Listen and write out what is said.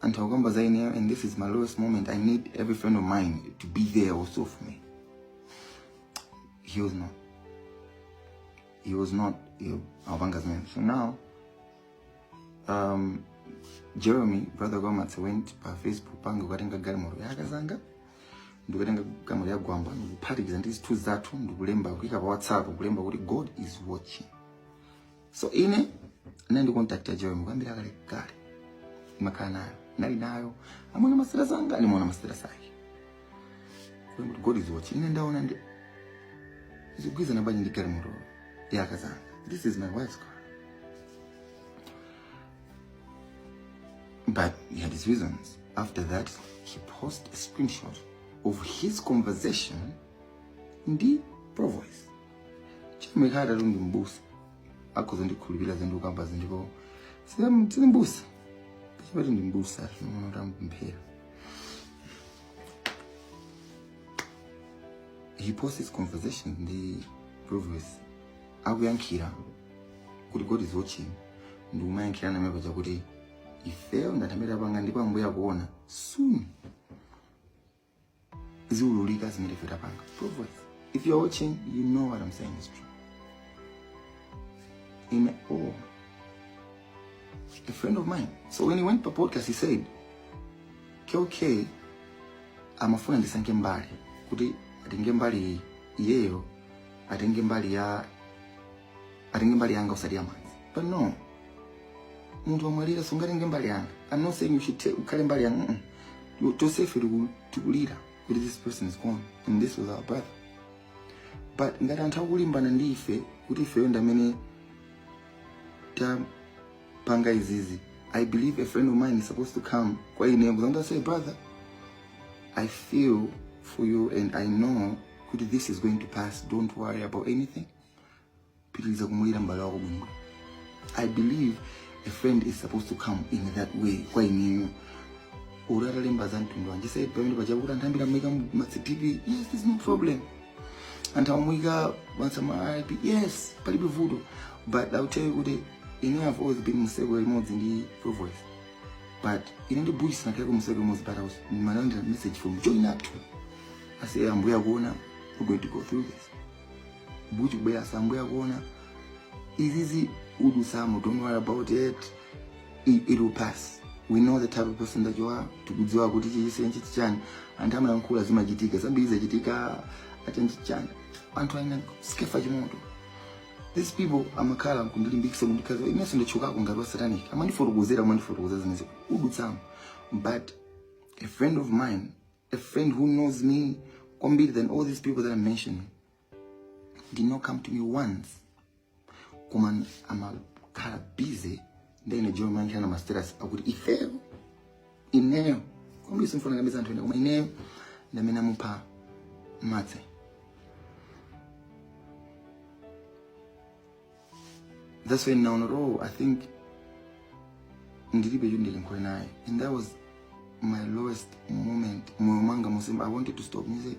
anthu akukamba za ineyo and this is my lowest moment i need every friend of mine to be there also for me he was not he was not you awapanga zimene so now um, jeremy brother kwamatse went pa facebook page kukatenga galimoto ya akazanga ndikutenga galimoto ya gwamba ndikuphatikiza ndi zithunzi zathu ndikulemba kuika pa whatsapp kulemba kuti god is watching so ine nandikontakta joy mukambira kale kale makhala nayo nali nayo amwene ma status anga ndimaona ma status ake kuli kuti god is watching ine ndaona ndi zikugwirizana bwanji ndi galimoto ya akazanga this is my wife's car but he had his reasons after that he posted a screenshot of his conversation ndi provoice chimikhala tatu ndi mbusa akhoza ndikhulupirira zinthu kukamba zinthu sina sina mbusa chipati ndi mbusa ukuona kuti amupemphera he posts his conversations ndi provoice akuyankhira kuti god is watching ndi kumayankhirana apa chakuti ifeyo ndatambira panga ndipo ambuye akuona soon ziululika zimene ife tapanga provoice if you're watching you know what i'm saying is true in all a friend of mine so when he went pa podcast he said kk amafuna ndisankhe mbali kuti atenge mbali iyeyo atenge mbali ya atenge mbali yanga osati ya mwanzi but no munthu wamwalira sungatenge mbali yanga i'm not saying you should take ukhale mbali yanga mm -mm. tonsefe tiku- tikulira kuti this person is gone and this was our brother but ngati anthu akulimbana ndi ife kuti ifeyo ndi amene tapanga izizi i believe a friend of mine is supposed to come kwa ine kuzanga say brother i feel for you and i know kuti this is going to pass don't worry about anything pitiliza kumulira mbale wako bwino i believe a friend is supposed to come in that way kwa ineyo uri atalemba za mtundu wanje said pamene pachapo kuti anthu ambiri amaika matctv yes there's no problem anthu amamuika mansama rip yes palibe vuto but ill tell you kuti ine i've always been mu circle imodzi ndi provoice but ine ndi bush sindinakhaleko mu circle imodzi but i was ndimalandira message from joy nathu ase ambuye akuona we're going to go through this mbuzi kubwera sam bwanji akuona izizi usadandaule don't worry about it it, it will pass we know the type of person that you are tikudziwa kuti chimenechi ndi chani anthu amayankhula zimachitika zambiri zachitika achani achani anthu ena Skeffa Chimoto these people amakhala kundilimbikisa kundiuza inenso ndachokako ngati wasatanic amandifotokozera amandifotokozera zimenezo udutsamo but a friend of mine a friend who knows me kwambiri than all these people that I'm mentioning did not come to me once koma amakhala busy ndi a John Mankhira ndi masters akuti ifeyo ineyo kwambiri sindifuna kunamiza anthu ena koma ineyo ndamene amupha matse That's when naona oh, I think ndilibe yundile nkwe naye and that was my lowest moment moyo mwanga musimba I wanted to stop music